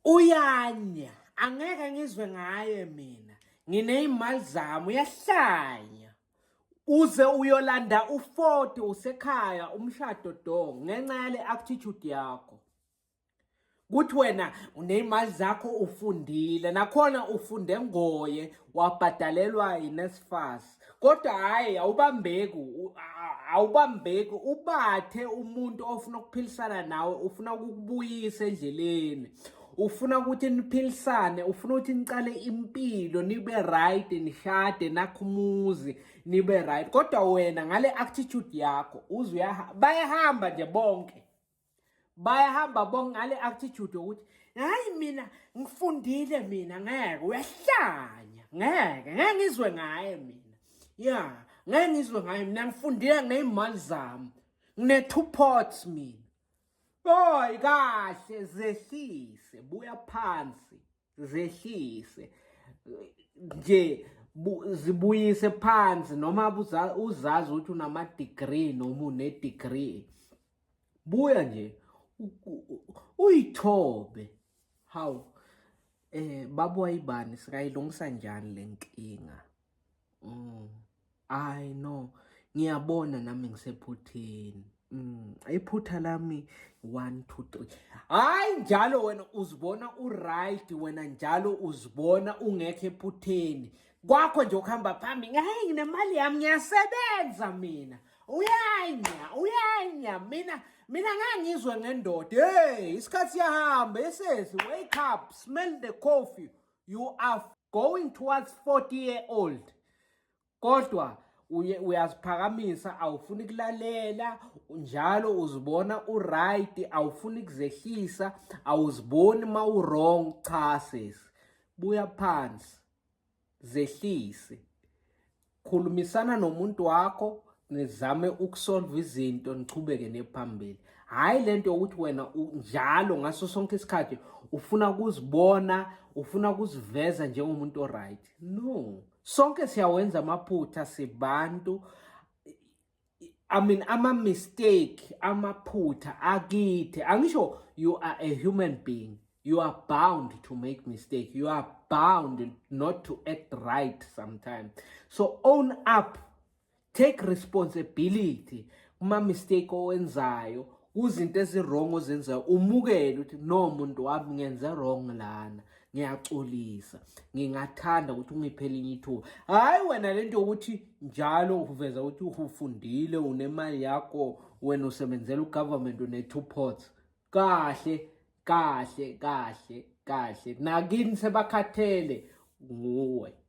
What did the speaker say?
Uyanya angeke ngizwe ngaye mina ngineyimali zami uyahlanya uze uyolanda u40 usekhaya umshado do ngenxa yale attitude yakho kuthi wena uneyimali zakho ufundile nakhona ufunde ngoye wabhadalelwa yiNSFAS kodwa hhayi awubambeki awubambeki ubathe umuntu ofuna ukuphilisana nawe ufuna ukukubuyisa endleleni ufuna ukuthi niphilisane ufuna ukuthi niqale impilo nibe right nishade nakho umuzi nibe right kodwa wena ngale attitude yakho uze bayahamba nje bonke bayahamba bonke ngale attitude ukuthi hayi mina ngifundile mina ngeke uyahlanya ngeke ngeke ngizwe ngaye mina ya ngeke ngizwe ngaye mina ngifundile ngeyimali zami ngine two pots mina boy kahle zehlise buya phansi zehlise nje zibuyise phansi noma uzazi ukuthi unama-degree noma une-degree buya nje uyithobe hawu eh baba wayibani sikayilungisa njani le nkinga mm. Hayi no, ngiyabona nami ngisephutheni. Mm, iphutha lami 1 2 3. Hayi njalo wena uzibona u right, wena njalo uzibona ungekho ephutheni. Kwakho nje ukuhamba phambili, hayi nginemali yami ngiyasebenza mina. Uyanya, uyanya mina mina ngangizwe ngendoda. Hey, isikhathi siyahamba esesi, wake up, smell the coffee. you are going towards 40 year old kodwa uye uyaziphakamisa awufuni kulalela njalo uzibona uright awufuni kuzehlisa awuziboni ma uwrong cha sis buya phansi zehlise khulumisana nomuntu wakho nizame ukusolva izinto nichubeke nephambili hhayi le nto yokuthi wena njalo ngaso sonke isikhathi ufuna ukuzibona ufuna ukuziveza njengomuntu oright no sonke siyawenza amaphutha sibantu I mean ama mistake amaphutha akithi angisho you are a human being you are bound to make mistake you are bound not to act right sometimes so own up take responsibility kuma mistake owenzayo kuzinto eziwrong ozenzayo umukele ukuthi no muntu wami ngenze wrong lana ngiyaxolisa ngingathanda ukuthi ungiphe elinye ithuba hhayi wena le nto yokuthi njalo uveza ukuthi ufundile unemali yakho wena usebenzela ugovernment une-two ports kahle kahle kahle kahle nakini sebakhathele nguwe